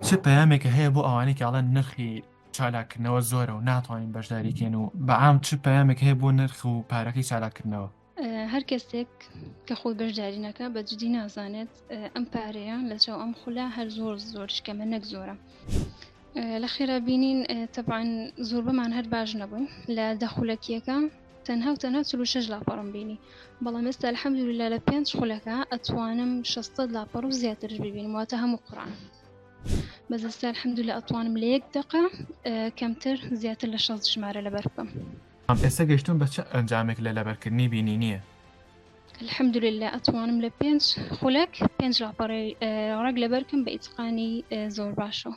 چ پەیامێکە هەیە بۆ ئەوانەی کە ئەڵێن نرخی چالاکردنەوە زۆرە و ناتوانین بەشداریکەن و بەعام چ پەیامێک هەیە بۆ نرخ و پارەکەی چالاکردنەوە هەر کەسێک کە خۆی بەشداری نەکە بە جدی نازانێت ئەم پارەیە لە چاو ئەم خولە هەر زۆر زۆر شکەمە نەک زۆرە لە خێرا بینین تەبان زۆر بەمان هەر باش نەبوون لە دەخولەکیەکە تەنها و تەنها چل و شەش لاپەڕم بینی بەڵام ئێستا الحەمدللە لە پێنج خولەکە ئەتوانم شەستەد لاپەڕ و زیاترش ببینم واتە هەموو قڕان بەس ئێستا الحەمدللە ئەتوانم لە یەک دەقە کەمتر زیاتر لە شەست ژمارە لەبەر بکەم ئەم ئێستا گەشتون بە چ ئەنجامێک لە لەبەرکردنی بینینیە الحەمدللە ئەتوانم لە پێنج خولەک پێنج لاپەڕی ڕەگ لەبەرکەم بە ئیتقانی زۆر باشەوە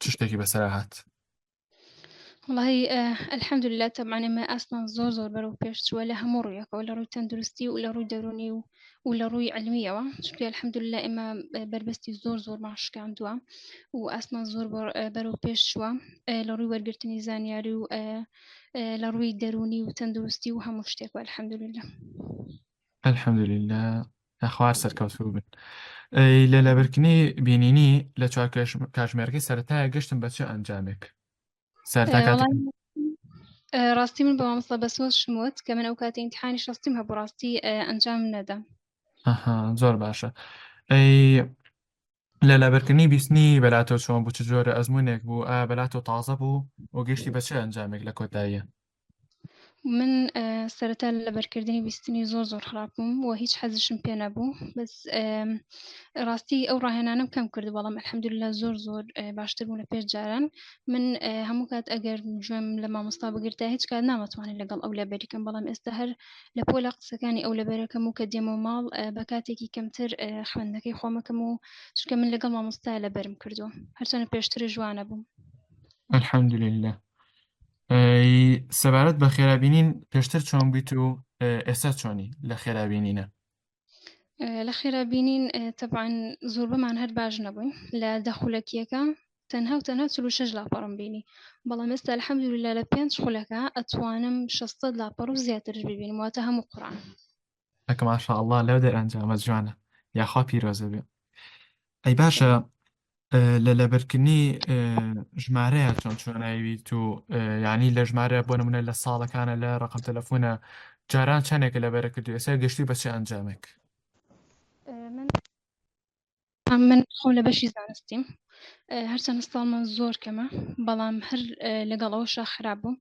چ شتێکی بەسەر هات وڵی ئەلحەمدللا تەمان ئێمە ئاستمان زۆر زۆر بەرەو پێشچووە لە هەموو ڕوویەکەەوە لە ڕووی تەندروستی و لە ڕووی دەرونی و و لە ڕووی علمیەوە چکە الحەمدللا ئێمە بربەستی زۆر زۆر ماشکاندووە و ئاسمان زۆر بەرەو پێش شووە لە ڕووی وەرگرتنی زانیاری و لە ڕووی دەرونی و تەندروستی و هەموو شتێک الحەمدللا الحەمدللا نەخوار سەرکەوتوو بن ئەی لە لەبرکنی بینینی لە چوار کاژ- کاژمێرەکەی سەرەتایە گەشتم بە چ ئەنجامێک سەرتا ئێ، کاتێک وەڵاهی، ئێ، ڕاستی من بە مامۆستا بەسۆز شموت کە من ئەو کاتی ئینتحانی شەستیم هەبوو ڕاستی ئێ، ئەنجام نەدەم ئەها زۆر باشە ئەی لە لەبەرکردنی بیستنی بەلاتۆ چۆن بوو چ جۆرە ئەزموونێک بوو ئایا بەلاتۆ تازە بوو و گەشتی بە چ ئەنجامێک لە کۆتاییە من سەرەتا لە لەبەرکردنی بیستنی زۆر زۆر خراپ بووم و هیچ حەزشم پێ نەبوو بەس ڕاستی ئەو ڕاهێنانم کەم کرد بەڵام الحەمدللا زۆر زۆر باشتر بوو لە پێش جاران من هەموو کات ئەگەر گوێم لە مامۆستا بگرتا هیچ کات نامەتوانێت لەگەڵ ئەو لەبەریکەم بەڵام ئێستا هەر لە پۆلە قسەکانی ئەو لەبەرەکەم و کە دێمە و ماڵ بە کاتێکی کەمتر خوێندەکەی خۆمەکەم و چکە من لەگەڵ مامۆستا لەبەرم کردو هەرچەنە پێشتر جوانە بووم الحمدلله سەبارەت بە خێرابینین پێشتر چۆن بوویت و ئێستا چۆنی لە خێرابینینە لە خێرا بینین تەبان زۆربەمان هەر باش نەبووین لە دەخولەکیەکە تەنها و تەنها چلو شش لاپەڕم بینی بەڵام ئێستا الحەمدللا لە پێنج خولەکە ئەتوانم شەستە لاپەڕ و زیاترش ببینم واتە هەموو قڕان ئەک ماشاءاللە لەو دەرئەنجامە جوانە یاخوا پیرۆزە بێ ئەی باشە لە لەبرکردنی ژمارەیە چۆن چۆنایویت و یعنی لە ژمارە بۆ نمونە لە ساڵەکانە لە ڕقم تەلەفۆنە جاران چەندێکە لە بەرە کردو ئێستا گەشتی بەچی ئەنجامێک من خۆ لە بەشی زانستیم هەرچەند ساڵمان زۆر کەمە بەڵام هەر لەگەڵ ئەوشا خراپ بووم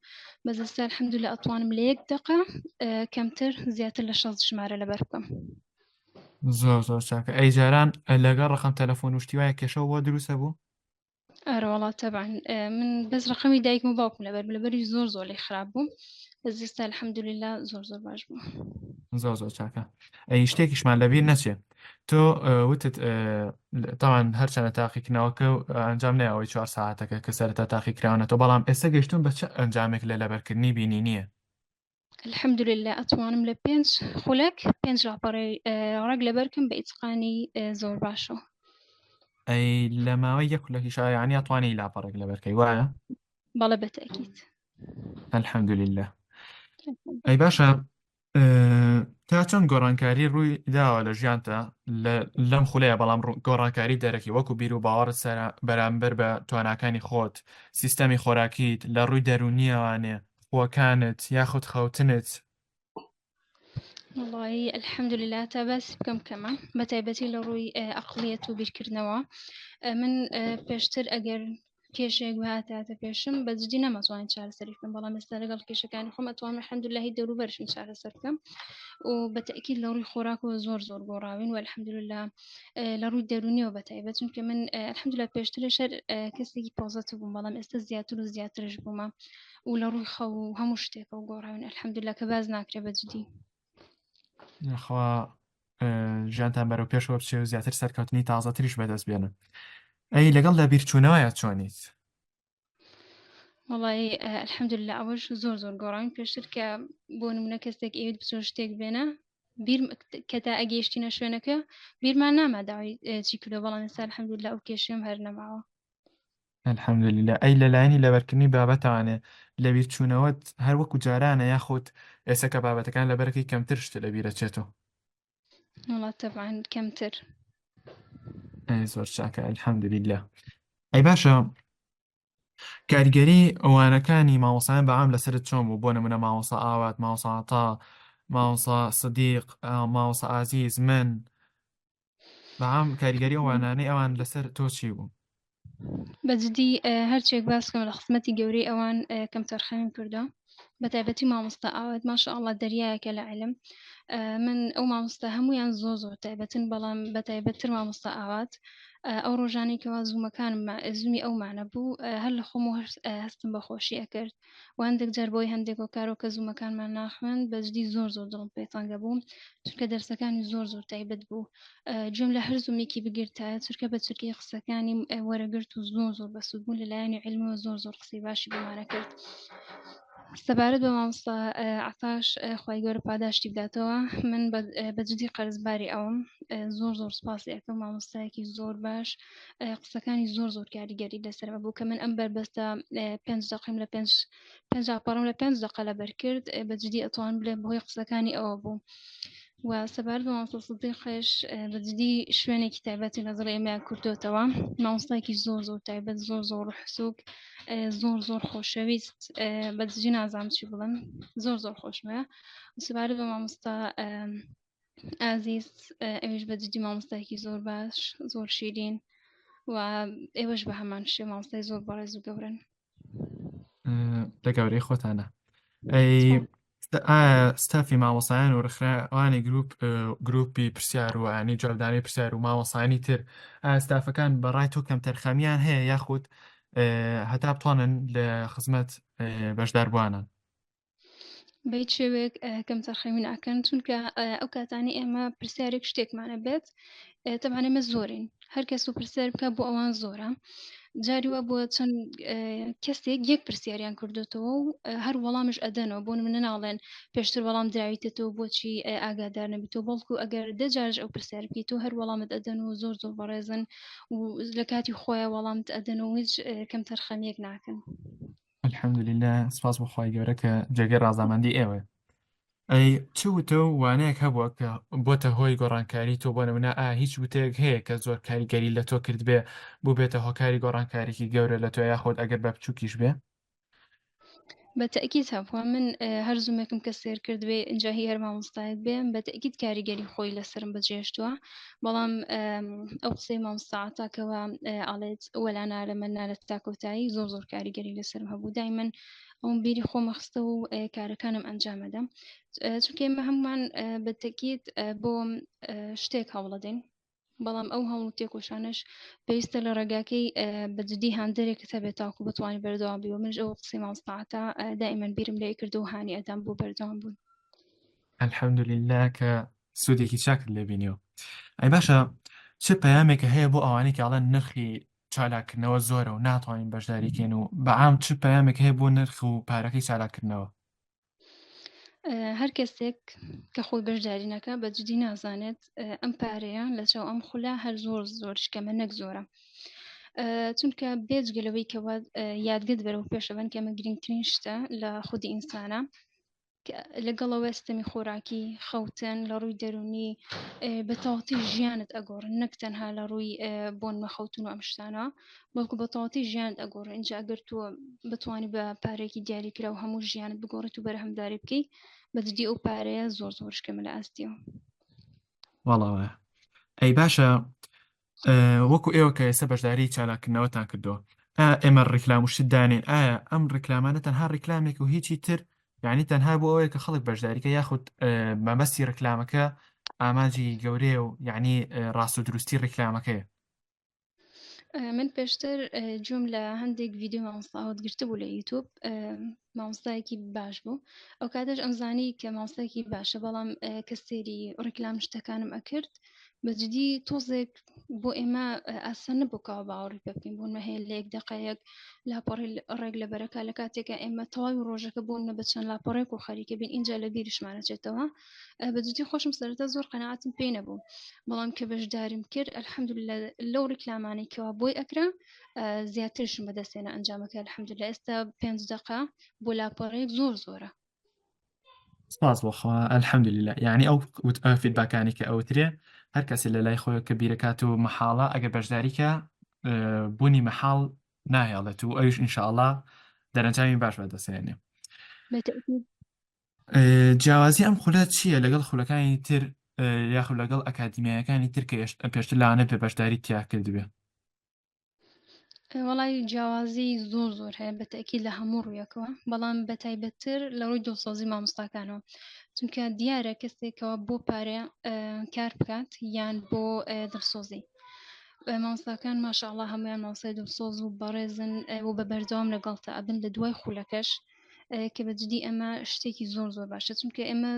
بەزستا حەمدو لە ئەتوانم لە یەک دقە کەمتر زیاتر لە شەست ژمارە لەبەر بکەم زۆر زۆر چاکە ئەی جاران لەگە ڕقم تەلەفۆن وشتی وایە کێشە بۆ دروستە بوو ئەرەوەڵات تەبان من بەس ڕقمی دایکم و باوکم لەبەر لەبەری زۆر زۆر لێ خراپ بوو زیستا الحەمدللا زۆر زۆر باش بوو زۆر زۆر چاکە ئەی شتێکیشمان لەبیر نەچێ تۆ وتت تاوان هەرچەنە تاقیکردنەوەکە و ئەنجام نایەوەی چوار ساعتەکە کە سەرتا تاقیکراونەتەوە بەڵام ئێستا گەشتون بە چ ئەنجامێک لە لەبەرکردنی بینی نییە الحمدلله ئەتوانم لە پێنج خولەک پێنج ڕاپەڕێ ڕێک لەبەرکم بە ئیتقانی زۆر باشەوە ئەی لە ماوەی یەک لەکی شایانی ئەتوانانی لاپەڕێک لەبەرکەی وایە بەڵە بەتەکیت الحمدلله ئەی باشە تا چەند گۆڕانکاری ڕووی داوە لە ژیانتە لەم خولەیە بەڵام گۆڕانکاری دەرەکی وەکو بیر و باوەڕت سەر بەرامبەر بە تواناکانی خۆت سیستەمی خۆراکیت لە ڕووی دەرونیەوانێ خوەکانت یاخود خەوتنت؟ وڵی ئەلحەمدللا تا باس بکەم کەمە بە تایبەتی لە ڕووی ئەقلیەت و بیرکردنەوە من پێشتر ئەگەر کێشێک هاتاتە پێشم بە جدی نەمەزوانین چارەسەری بکەم بەڵام ئێستا لەگەڵ کێشەکانی خۆم ئەتوان حەمدلهی دەوروبەرشم چارەسەر بکەم و بە تەکی لە ڕووی خۆراک و زۆر زۆر گۆڕاوین و الحەمدللا لە ڕووی دەرونیەوە بە تایبەت چونکە من الحەمدللا پێشتر شەر کەسێکی پۆزەت بووم بەڵام ئێستا زیاتر و زیاترش بوومە و لە ڕووی خەو و هەموو شتێکە و گۆڕاون ئەلحەمدللا کە باز ناکرێ بە جدی خوا ژیانتان بەرەو پێشەوە بچێ و زیاتر سەرکەوتنی تازە تریش بەدەست بێنن ئەی لەگەڵ لە بیرچوونەوەە چۆنیت وڵی ئەلحەمدللا ئەوەش زۆر زۆر گۆڕاوین پێشتر کە بۆ نمونە کەسێک ئەوێت بچۆ شتێک بێنە بیر کە تا ئەگەیشتینە شوێنەکە بیرمان ناماداوای چی کردو بەڵام ئێستا الحەمدللا ئەو کێشێم هەر نەماوە الحمدللە ئەی لە لایەنی لەبەرکردنی بابەتانێ لەبیر چوونەوەت هەر وەکو جارانە یاخود ئێستا کە بابەتەکان لەبەرەکەی کەمتر شتە لەبیرە چێتەوە وڵا تەبعاان کەمتر ئەی زۆر چاکە الحمدللە ئەی باشە کاریگەری ئەوانەکانی مامۆسایان بەعام لەسرت چۆن بوو بۆ نمونە مامۆسا ئاوات ماوەساتا ماوەسا سدیق ماوەسا ئازیز من بەام کاریگەری ئەوانانەی ئەوان لەسەر تۆچی بوو بەجددی هەرچێک باسکەم لە خزمەتی گەورەی ئەوان کەم تەرخەمیم کردو بە تایبەتی مامۆستا ئاوات ماشە ئاڵا دەریایەکە لە علم من ئەو مامۆستا هەمویان زۆ زۆر تایبەتن بەڵام بە تایبەتتر مامۆستا ئاوات ئەو ڕۆژانێکەوە زوومەکانم زومی ئەومانە بوو هەر لە خۆم و هەستم بە خۆشی ئەکرد و هەندێک جار بۆی هەندێک هۆکارەوە کە زوومەکانمان ناخوێن بەجدی زۆر زۆر دڵم پێی تەنگە بووم چونکە دەرسەکانی زۆر زۆر تایبەت بوو جوێم لە هەر زوومێکی بگرتە چرکە بە چرکی قسەکانی وەرەگرت و زۆر زۆر بەسوود بوون لە لایەنی علمەوە زۆر زۆر قسەی باشی بمانە کرد سەبارەت بە مامۆستا عتاش خی گەورە پاداشتی بداتەوە من بەجددی قەرزباری ئەوم زۆر زۆر سپاسی ئەەکەم مامۆستایەکی زۆر باش قسەکانی زۆر زۆر کاریگەری لەسەرمە بوو کە من ئەم بەربەستە پێنج دقیم لە پێنج پێنج پەڕم لە پێنج دقە لە بەرکرد بە جدی ئەتوان بلێ بەهۆی قسەکانی ئەوە بوو. و سەبار بە مامسەستی خێش بە جدی شوێنێکی تایبەتی لە دڵ ئێمە کردوێتەوە مامۆستایکی زۆر زۆر تایبەت زۆر زۆر حسوک زۆر زۆر خۆشەویست بە جدی نازانم چی بڵم زۆر زۆر خۆشمە سەبار بە مامۆستا ئازیز ئەوش بە جدی مامۆستایکی زۆر باش زۆر شیرین و ئێوەش بە هەمان شێ مامۆستای زۆر بەڕێز و گەورن لە گەورەی خۆتانە ستافی مامۆسایان و ڕخراوانی گروپ گروپی پرسیار و ئەنی جوابدانی پرسیار و مامۆسانی تر ئاستافەکان بەڕای تۆ کەم تەرخەمیان هەیە یاخود هەتا بتوانن لە خزمەت بەشداربووانن بەیت شێوێک کەم تەرخەمی ناکەن چونکە ئەو کاتانی ئێمە پرسیارێک شتێکمانە بێت تەمان ئێمە زۆرین هەر کەس و پرسیار بکە بۆ ئەوان زۆرە جاری وە بۆ چەند کەسێک یەک پرسیاریان کردوێتەوە و هەر وەڵامیش ئەدەنەوە بۆن منە ناڵێن پێشتر وەڵام دراویتەوە بۆچی ئاگادار نەبیتەوە بەڵکو ئەگەر دەجارش ئەو پرسیار بکەیت و هەر وەڵامت ئەدەن و زۆر زۆر بەڕێزن و لە کاتی خۆیان وەڵامت ئەدەن و هیچ کەم تەرخەمیەک ناکەن. الحمد للە سپاس بۆ خوای گەورە کە جێگەی ڕازامەندی ئێوە ئەی چ وتە و وانەیەک هەبووە کە بۆتە هۆی گۆڕانکاری تۆ بۆ نمونە ئا هیچ وتەیەک هەیە کە زۆر کاریگەری لە تۆ کردبێ بوو بێتە هۆکاری گۆڕانکارێکی گەورە لە تۆ یاخۆت ئەگەر بە بچووکیش بێ بە تەکیت هەبووە من هەر زوومێکم کە سێر کردبێ ئەجا هی هەر مامۆستایەک بێم بە تەکیت کاریگەری خۆی لەسرم بەجێشتووە بەڵام ئەو قسەی مامستاعاتاکەەوە ئاڵێت وەلا نارە من نارە تا کۆتایی زۆر زۆر کاریگەری لەسەر هەبوو دای من ئەوم بیری خۆمەخستە و کارەکانم ئەنجامەدەم چونکە ئمە هەمومان بەتەکیت بۆ شتێک هەوڵەدەین بەڵام ئەو هەموو تێکۆشانش پێویستە لە ڕێگاکەی بەجددی هاندێک کە بێت تاکو بتوانانی بەردەوام بی و منش ئەو قسەی مامستاعاتە دائیمەن بیرم لێ کرد و هاانی ئەدام بۆ بەردەوام بوون الحمدلله کە سودێکی چاکت لێ بینیەوە ئەی باشە چ پەیامێکە هەیە بۆ ئەوانەی کە ئەڵەن نرخی چالاکردنەوە زۆرە و ناتوانین بەشداریکەین و بەعام چ پەیامێک هەیە بۆ نرخ و پارەکەی چالاکردنەوە هەر کەسێک کە خۆی بەشداری نەکە بە جدی نازانێت ئەم پارەیە لە چاو ئەم خولە هەر زۆر زۆر شکەمە نەک زۆرە چونکە بێجگەلەوەی کەەوە یادگەت بەرەو پێشەوەن کەمە گرنگترین شتە لە خودی ئینسانە لەگەڵەوەێ ستەمی خۆراکی خەوتن لە ڕووی دەرونی بە تەواتی ژیانت ئەگۆڕن نەک تەنها لە ڕووی بۆن مەخەوتن و ئەمشتانە بەڵکو بە تەواتی ژیانت ئەگۆڕ ئینجا ئەگەر تۆ بتانی بە پارێکی دیاریکرا و هەموو ژیانت بگۆڕێت و بەرهەمداری بکەی بەجددی ئەو پارەیە زۆر زۆرشکەمە لە ئاستیەوە وڵاوە ئەی باشە وەکو ئێوە کە ئێستا بەشداری چالاکردنەوەتان کردەوە ئێمە ڕیکلام و شت دانێن ئایا ئەم ڕیکلامانە تەنها ڕیکلامێک و هیچی تر یعنی تەنها بۆ ئەوەیە کە خەڵک بەشداریکە یاخود مەبەستی ڕیکلامەکە ئامانجی گەورەیە و یعنی ڕاست و دروستی ڕیکلامەکەیە من پێشتر جوم لە هەندێک ڤیددیو مامۆستاوت گرتبوو لە یوتوب مامۆستایەکی باش بوو ئەو کاتەش ئەمزانی کە مامۆستایەکی باشە بەڵام کە سێری ڕیکلام شتەکانم ئەکرد بەجددی تۆزێک بۆ ئێمە ئاسان نەبوو کاوە باوەڕی پێ بکەین بوونمە هەیە لە یەک دقەیەک لاپەڕی ڕێک لە بەرەکە لە کاتێکە ئێمە تەواوی ڕۆژەکە بوون نە بە چەند لاپەڕێک و خەریکە بین اینجا لە بیریشمانەچێتەوە بەجددی خۆشم سەرتا زۆر قەنەعاتم پێ نەبوو بەڵام کە بەشداریم کرد الحمد لەو ڕیکلامانەی کەوا بۆی ئەکرا زیاترشم بەدەستێنە ئەنجامەکە الحمد لە ئێستا پێنج دقە بۆ لاپەڕێک زۆر زۆرە سپاس بۆ خوا الحەمدللە یعنی ئەو وت ئەو فیدباکانی کە ئەوترێ هەر کەسێ لە لای خۆی کە بیرەکات و مەحاڵە ئەگەر بەشداریکە اه، بوونی مەحاڵ ناهێڵێت و ئەوش ئینشاءاللە دەرەنجامی باش بەدەسێنێ بەتەکید اه، جیاوازی ئەم خولە چییە لەگەڵ خولەکانی تر اه، یاخود لەگەڵ ئەکادیمیایەکانی تر کە یشت- پێشتر لاانە بێ بەشداری تیا کردبێ وەڵی جیاوازی زۆر زۆر هەیە بەتەکی لە هەموو ڕوویەکەوە بەڵام بە تایبەتتر لە ڕووی دڵسۆزی مامۆستاکانەوە چونکە دیارە کەسێکەوە بۆ پارێ کار بکات یان بۆ دڵسۆزی مامۆستاکان ماشاءله هەمویان ماوسای دڵسۆز و بەڕێزن و بە بەردەوام لەگەڵتە ئەبن لە دوای خولەکەش کە بە جدی ئەمە شتێکی زۆر زۆر باشە چونکە ئێمە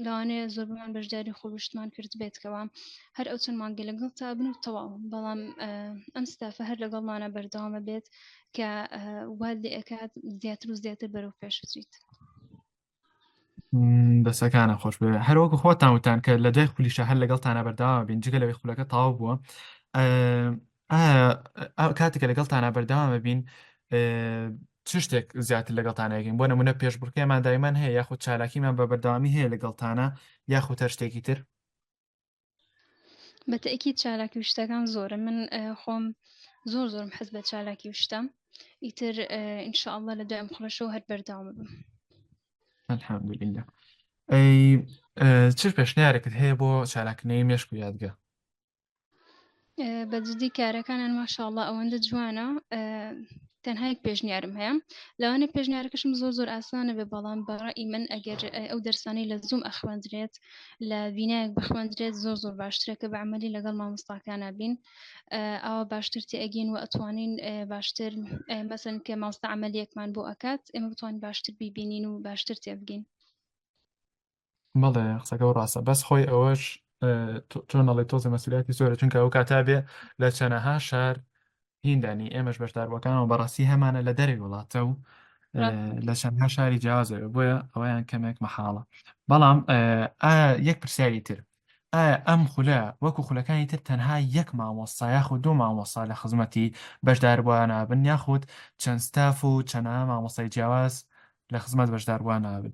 لەوانەیە زۆر بمان بەشداری خۆشتمان کرد بێتکەوە هەر ئەو چەند مانگە لەگەڵ تا بن و تەواو بەڵام ئەم ستافە هەر لەگەڵمانە بەردەوامە بێت کە وال لێ ئەکات زیاتر و زیاتر بەرەو پێش بچیت. دەسەکانە خۆش بێ هەروەکو خۆتان وتان کە لە دوای خولیشە هەر لەگەڵتانە بەرداوا بین جگە لەوەی خولەکە تاو بووە ئایا کاتێکە لەگەڵتانا بەردەوام بین چ شتێک زیاتر لەگەڵتانەکەین بۆ نمونە پێشبڕکێمان دایمان هەیە یاخود چالاکیمان بە بەردەوامی هەیە لەگەڵتانە یاخود هەر شتێکی تر بە تەکی چالاکی و شتەکان زۆرە من خۆم زۆر زۆرم حەز بە چالاکی و شتە ئیتر ئینشاءله لە دوای مخڵەشەوە هەر بەرداوام بم الحمدلله ئەی چ پێشنیارێکت هەیە بۆ چالاکنەی مێشک و یادگە بەجددی کارەکانان ماشاءله ئەوەندە جوانە تەنها یک پێشنیارم هەیە لەوانە پێشنیارەکەشم زۆر زۆر ئاسانە بێ بەڵام بەڕی من ئەگەر ئەو دەرسانی لە زوم ئەخوێندرێت لە بینایەک بخوێندرێت زۆر زۆر باشترە کە بە عملی لەگەڵ مامۆستاکانە بین ئەوە باشتر تێگین و ئەتوانین باشتر مەسن کە ماستە عملیەکمان بۆ ئەکات ئێمە بتوان باشتر بیبینین و باشتر تێبگین بەڵێ قسەکە و ڕاستە بەس خۆی ئەوەش چۆن ئەڵێ تۆزە مەسولیاتی زۆرە چونکە ئەو کاتا بێ لە چەنەها شار هیندانی ئێمەش بەشداربووەکانەوە بەڕاستی هەمانە لە دەری وڵاتە و لە چەندها شاری جیازەوە بۆیە ئەویان کەمێک مەحاڵە بەڵام یەک پرسیاری تر ئایا ئەم خولە وەکو خولەکانی تر تەنها یەک مامۆستا یاخود دوو مامۆستا لە خزمەتی بەشداربووان نابن یاخود چەند ستاف و چەنە مامۆستای جیاواز لە خزمەت بەشداربووان نابن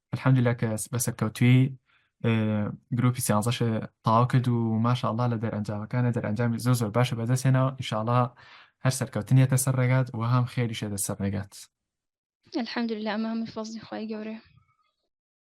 الحمدللە کە بە سەرکەوتوی گروپی سیانزەش تاوا کرد و ماشاءله لە دەرەنجامەکانە دەرەنجامی زۆر زۆر باشە بەدەستێنەوە ئیشاڵا هەر سەرکەوتنیەتە سەر ڕێگات و هەم خێریشێتە سەر ڕێگات الحمدلله ئەمە هەمووی فەزلی خی گەورەیە